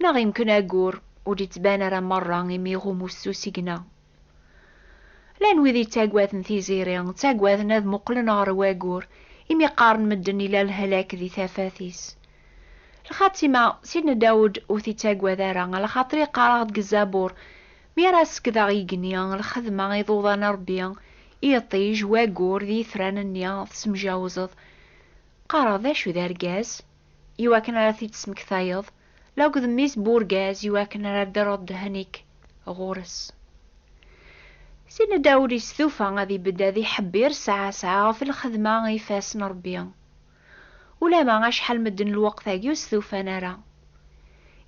Neɣ yemken ayyur ur d-ittban ara merra imi iɣum ussus igna. Llan wid yettaggaden tiziri, ttaggaden ad muqlen ɣer waggur imi qqaren medden ila lehlak di tafat-is. Lxatima, Sidna Dawed ur t-ittaggad ara, alaxaṭer yeqqar-aɣ-d deg Zabur, Mi ara sekkdeɣ igenni, lxedma, iḍuḍan a Rebbi, iṭij, waggur d yitran-nni, tessemjawzeḍ. Qqareɣ, D acu d argaz? I wakken ara t-id-tesmektayeḍ, la akked mmi-s n urgaz, i wakken ara d-terreḍ ddehn-ik ɣur-s. Sidna Dawed yestufa ad ibedd ad iḥebbir ssaɛa ssaɛa ɣef lxedma i ifassen n Ṛebbi. Ulamma acḥal medden lweqt-agi ur stufan ara.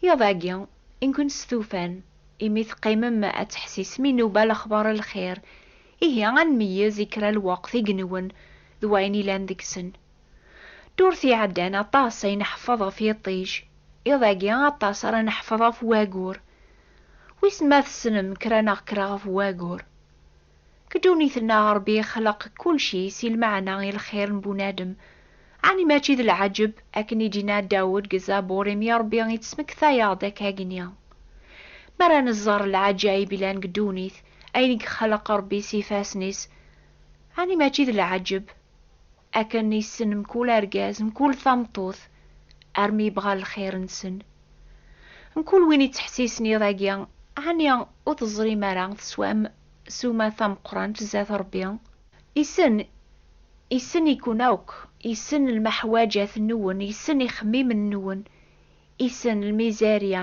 Iḍ-agi, i nkent stufan, imi teqqimem ad teḥsisem inuba lexbar n lxir, ihi ad nmeyyez i kra n lweqt igenwen d wayen ilan deg-sen. Ddurt iɛeddan aṭas ay nḥeffeḍ ɣef yiṭij, iḍ-agi aṭas ara neḥfeḍ ɣef wagur. Wissen ma tessnem kra neɣ kra ɣef wagur? Deg ddunit-nneɣ Rebbi yexleq kulci si lmeɛna i lxir n bunadem. Ɛni mačči d lɛeǧǧeb, akken i d-yenna Dawed deg Zabur, imi Rebbi i d-tesmektayeɣ-d akka-gni? Mi ara nẓer lɛaǧayeb yellan deg ddunit, ayen i yexleq Rebbi s yifassen-is, ɛni mačči d lɛeǧǧeb? Akken yessen mkul argaz, mkul tameṭṭut, armi yebɣa lxir-nsen. Mkul win yettḥessisen iḍ-agi, ɛni ur teẓrim ara teswam ssuma tameqqrant zdat Rebbi? Yessen, yessen-iken akk, yessen lmeḥwaǧat-nwen, yessen ixemmimen-nwen, yessen lmizerya,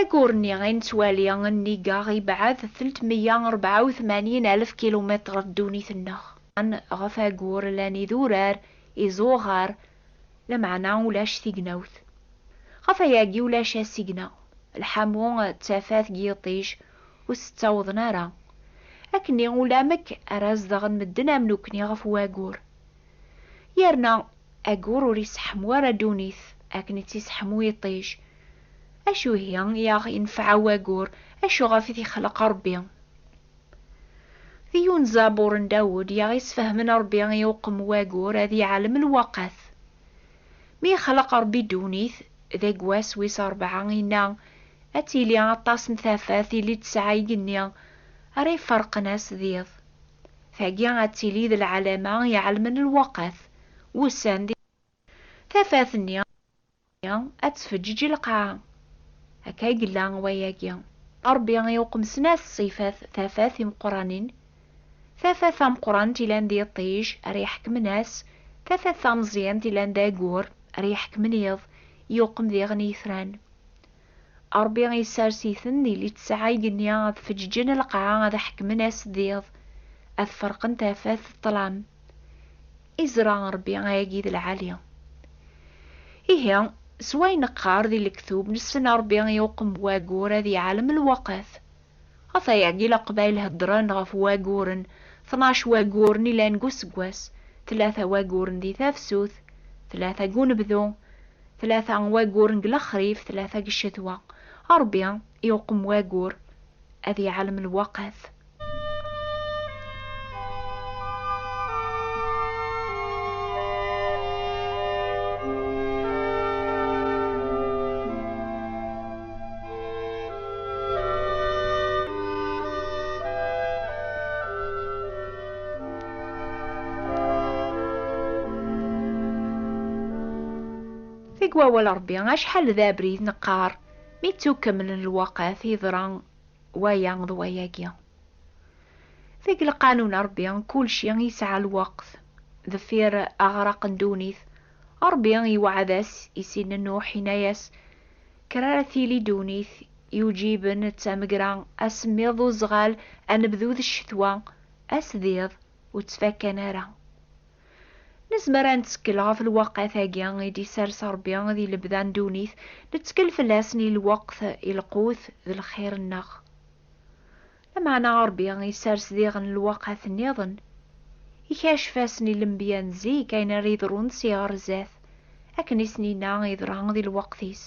Aggur-nni ay nettwali nnig aɣ yebɛed tlettmeyya u rebɛa u tmanyin alef kilumitr ddunit-nneɣ. Ɣef aggur llan idurar, iẓuɣar, lameɛna ulac tignawt. Ɣef wayagi ulac asigna, lḥamu d tafat deg yiṭij ur s-ttawḍen ara. Akkenni ulamek ara zedɣen medden am nekkni ɣef waggur. Yerna aggur ur iseḥmu ara ddunit akken i tt-iseḥmu yiṭij. Acu ihi i aɣ-inefɛa waggur, acu ɣef i t-ixleq Ṛebbi? Di yiwen ẓabur n Dawed i aɣ-isfehmen Ṛebbi i uqem waggur ad iɛlem lweqqat. Mi ixleq Ṛebbi ddunit, deg wass wis ṛebɛa inna, Ad tili aṭas n tafat, ili tesɛa igenni, ara iferqen ass d iḍ. Tagi ad tili d lɛalama iɛelmen lweqt, wussan di. Tafat-nni ad tfeǧǧeǧ lqaɛa. Akka i yella wayagi. Rebbi i uqemsen-as ṣṣifat tafat imeqqranen, tafat tameqqrant ilan d iṭij ara iḥekmen ass, tafat tameẓyant ilan d ayyur ara iḥekmen iḍ, i uqem diɣen itran. Ṛebbi isers-iten di litteɛ igenni ad feǧǧǧen lqaɛa ad ḥekmen ass d iḍ, ad ferqen tafat d ṭṭlam. Izṛa Ṛebbi ayagi d lɛali. Ihi, s way neqqar di lektub, nessen Ṛebbi i uqembu aggur ad iɛalem lweqt. Ɣef ayeɛgil aqbayel heddren ɣef waguren, tnac waguren ilan deg useggas, tlata waguren di tafsut, tlata deg unebdu, tlata waguren deg lexrif, tlata deg ccetwa. Rebbi iwqem wagur, ad iɛalem lwaqat. Deg wawal Ṛebbi, acḥal d abrid neqqar mi ttukkemlen lwaqat yeḍra waya d wayagi. Deg lqanun Ṛebbi, kulci yesɛa lweqt. Deffir aɣraq n ddunit, Ṛebbi iweɛɛed-as i Sidna Nuḥ, yenna-as, Kra ara tili ddunit yuǧiben d tamegra, asemmiḍ d uzɣal, anebdu d ccetwa, ass d iḍ ur ttfakkan ara. Nezmer ad nettekkel ɣef lweqt-agi i d-isers Rebbi di lebda n ddunit, nettekkel fell-asen i lweqt, i lqut d lxir-nneɣ. Lameɛna Ṛebbi isers diɣen lweqat nniḍen, ikacef-asen i lenbiya n zik ayen ara yeḍrun si ɣer zdat, akken i sen-yenna yeḍra di lweqt-is.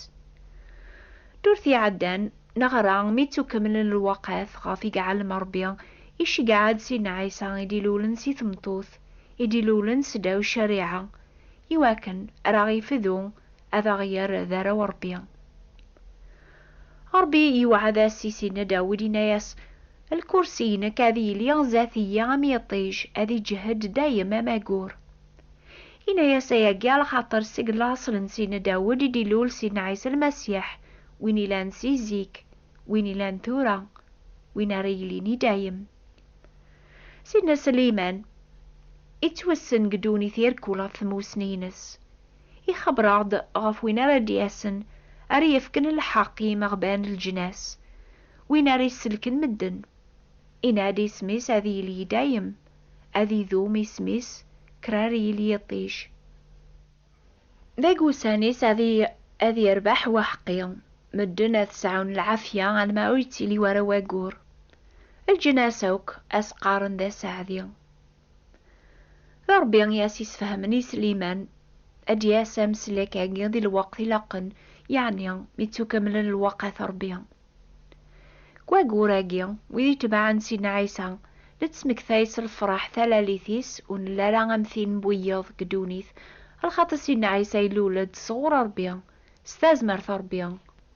Ddurt iɛeddan, neɣra mi ttukemlen lweqat ɣef i iɛellem Ṛebbi, iceggeɛ-d Sidna Ɛisa i d-ilulen si tmeṭṭut, i d-ilulen seddaw ccariɛa, iwakken ar aɣ-ifdu, ad aɣ-yerr d arraw n Ṛebbi. Ṛebbi iwɛed-as i Sidna Dawed, inna-yas, Lkursi-inek ad yili zdat-iyi am yiṭij, ad iǧhed dayem am agur. Inna-yas ayagi alxaṭer seg laṣel n Sidna Dawed i d-ilul Sidna Ɛisa Lmasiḥ, win ilan si zik, win ilan tura, win ara yilin i dayem. Sidna Sliman, ittwessen deg ddunit irkul ɣef tmussni-ines. Ixebber-aɣ-d ɣef win ara d-yasen, ara yefken lḥeqq i yimeɣban n leǧnas, win ara isellken medden. Inna-d, Isem-is ad yili i dayem, ad idum, isem-is krar yil yiṭij. Deg wussan-is ad yerbeḥ waḥeqqi, medden ad sɛun lɛafya alma ur yettili wara wayyur. Leǧnas akk ad s-qqaren d aseɛdi. D Ṛebbi i as-isfehmen i Sliman ad d-yas ameslek-agi di lweqt ilaqen, yeɛni mi ttukamlen lwaqat n Ṛebbi. Deg wayyur-agi, wid itebɛen Sidna Ɛisa nettmektay s lfeṛḥ talalit-is ur nelli ara am tin n wiyiḍ deg ddunit, lxaṭi Sidna Ɛisa ilul-d sɣur Ṛebbi, s tazmert n Ṛebbi.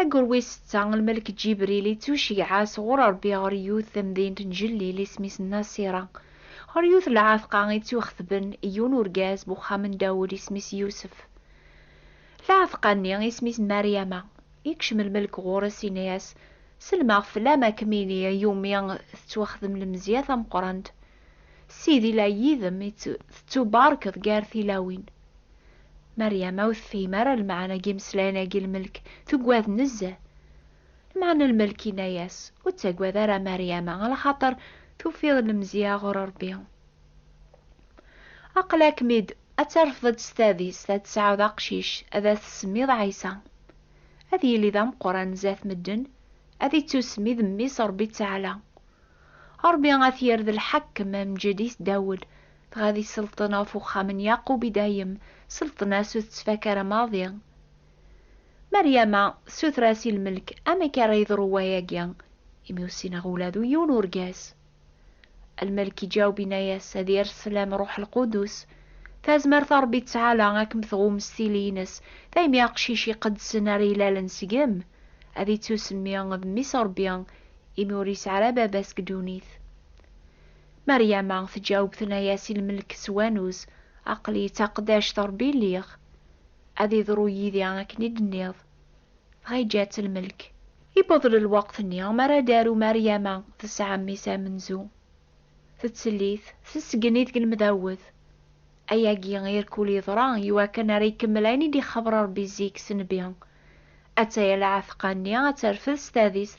Ayyur wis setta, lmelk Ǧibril ittuceyyeɛ sɣur Ṛebbi ɣer yiwet tamdint n Jellil isem-is Nasira, ɣer yiwet n lɛetqa i tt-ixetben i yiwen urgaz n uxxam n Dawed isem-is Yusef. Lɛetqa-nni isem-is Maryama. Ikcem lmelk ɣur-s inna-as, Selmaɣ fell-am a kem-iniɣ i umi tettwaxdem lemzeyya tameqqrant. Sidi la yid-m, tettubarkeḍ gar tilawin. Meryama ur tefhim ara lmeɛna n yimeslayen-agi n lmelk, tuggad nezzeh. Lmeɛna n lmelk yenna-yas, Ur ttaggad ara a Meryama, alaxaṭer tufiḍ lemzeyya ɣur Rebbi. Aql-akem-id ad terfdeḍ s tadist ad tesɛuḍ aqcic ad as-tsemmiḍ Ɛisa. Ad yili d ameqqran zdat medden, ad ittusemmi d Mmi-s Rebbi Ttaɛla. Rebbi ad t-yerr d lḥakem, amǧed i Dawed, dɣa di selṭen ɣef uxxam n Yaqub i dayem, selṭen-a s ur tettfak ara maḍi. Maryama tessuter-as i lmelk amek ara yeḍru wayagi, imi ur ssineɣ ula d yiwen urgaz. Lmelk iǧaweb inna-yas ad yers sslam Ruḥ Lqudus, tazmert a Rebbi ttɛala ad kem-tɣum s tili-ines, daymi aqcic iqeddsen ara ilalen seg-m, ad ittusemmi d mmi-s Rebbi, imi ur yesɛi ara baba-s deg ddunit. Meryama tǧaweb tenna-yas i lmelk s wanuz, Aql-i d taqeddact n Ṛebbi lliɣ, ad iḍru yid-i akken i d-tenniḍ. Dɣa yeǧǧa-tt lmelk. Yewweḍ lweqt-nni mi ara d-taru Meryama tesɛa mmi-s amenzu. Tettel-it, tessgen-it deg lemdawed. Ayagi irkul yeḍra i wakken ara ikemmel ayen i d-ixabber Ṛebbi zik s nnbi. Atta yal aɛteq-nni ad terfed s tadist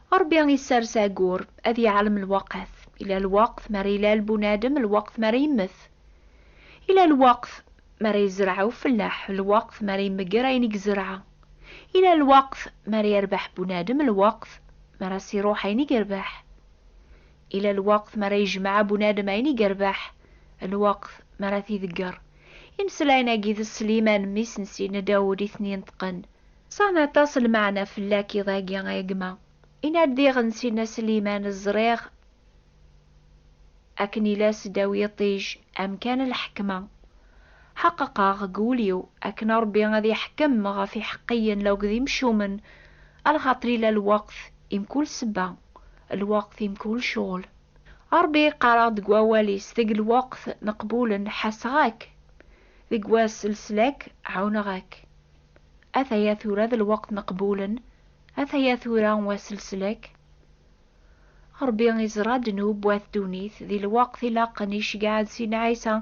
Ṛebbi isers agur, ad yeɛlem lweqt. Ila lweqt mi ara ilal bunadem, lweqt mi ara yemmet. Ila lweqt mi ara yezreɛ ufellaḥ, lweqt mi ara yemger ayen i yezreɛ. Ila lweqt mi ara yerbeḥ bunadem, lweqt mi ara as-iṛuḥ ayen i yerbeḥ. Ila lweqt mi ara yejmeɛ bunadem ayen i yerbeḥ, lweqt mi ara t-idegger. Imeslayen-agi d Sliman, mmi-s n Sidna Dawed, i ten-ineṭqen, Sɛan aṭas lmeɛna fell-ak iḍ-agi a gma. I naddiɣ n Sina Sliman ẓriɣ akken ila seddaw yiṭij amkan n lḥekma. Ḥeqqeqeɣ deg wul-iw akken Rebbi ad iḥekkem ɣef iḥeqqiyen laug d imcumen a lxaṭer ila lweqt i mkul sebba, lweqt i mkul cɣel. A Rebbi qqareɣ deg wawal-is deg lweqt neqbulen ḥaseɣ-ak, deg wass leslak ɛuneɣ-ak. Ataya tura d lweqt n qbulen, ataya tura wass n leslak. Rebbi iẓra ddnub wat ddunit di lweqt ilaqen iceggeɛ-d Sidna Ɛisa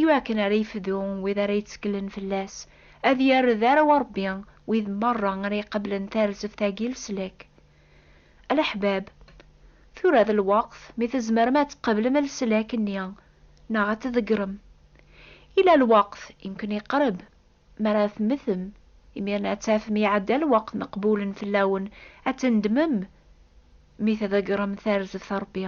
iwakken ara yefdu wid ara yetteklen fell-as, ad yerr d arraw Rebbi wid merra ara iqeblen tarzeft-agi n leslak. A leḥbab, tura d lweqt mi tzemrem ad tqeblem leslak-nni neɣ ad t-tḍeggrem. Ila lweqt i nken-iqreb, Mi ara temmtem, imir-nni ad tafem iɛedda lweqt meqbulen fell-awen, ad tendmem mi tḍeggrem tarzeft Rebbi.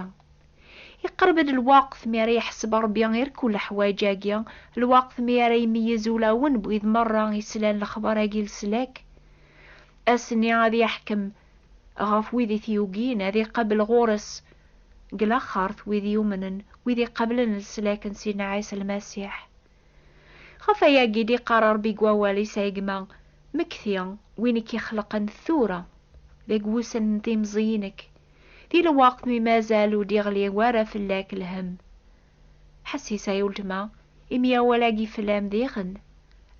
Iqerreb-d lweqt mi ara iḥseb Rebbi i rkul leḥwayeǧ-agi, lweqt mi ara imeyyez ulawen n wid merra islan lexbar-agi leslak. Ass-nni ad iḥkem ɣef wid i t-yugin, ad iqabel ɣur-s deg laxert wid yumnen, wid iqablen leslak n Sidna Ɛisa Lmasiḥ. Ɣef ayagi d-iqqar Rebbi deg wawal-is, A gma, mmekti win i k-ixelqen tura, deg wussan n timẓiyin-ek, di lweqt mi mazal ur d-iɣli wara fell-ak lhemm. Ḥessis ay uletma, imi awal-agi fell-am diɣen,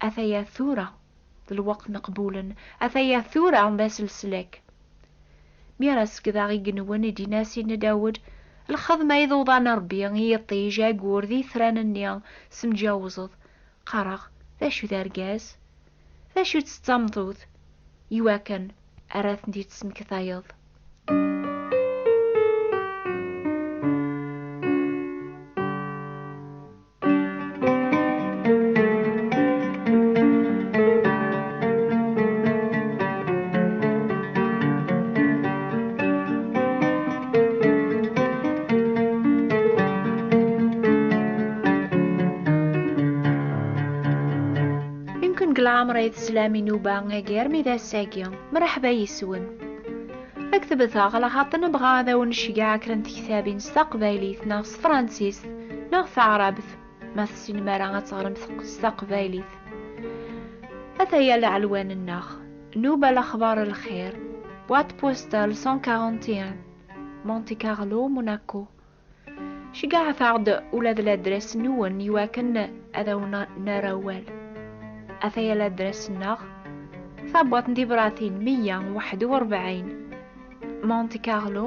ataya tura. D lweqt n qbulen, ataya tura d ass leslak. Mi ara sekdeɣ igenwen i d-yenna Sidni Dawed, lxedma i d uḍan n Rebbi, i yiṭij, ayyur d yitran-nni, semǧawzeḍ. Qqareɣ, D acu d argaz? D acu-tt d tameṭṭut? Iwakken ara tent-id-tesmektayeḍ. leɛmer ay teslam i Nuba agi armi d ass-agi. Mṛeḥba yes-wen. Ad k-tebteɣ laxaṭ nebɣa ad awen-necgeɛ kra n tektabin s taqbaylit neɣ tefransist neɣ taɛrabt ma tessinem ara ad teɣrem s taqbaylit ataya leɛlwan-nneɣ nuba lexbar lxir boîte postale 141 Monte Carlo Monaco ceggaɛet-aɣ-d ula d ladras-nwen iwakken ad awen-nerr awal ataya ladras-nneɣ tabwaḍt n tibratin 141 Monte Carlo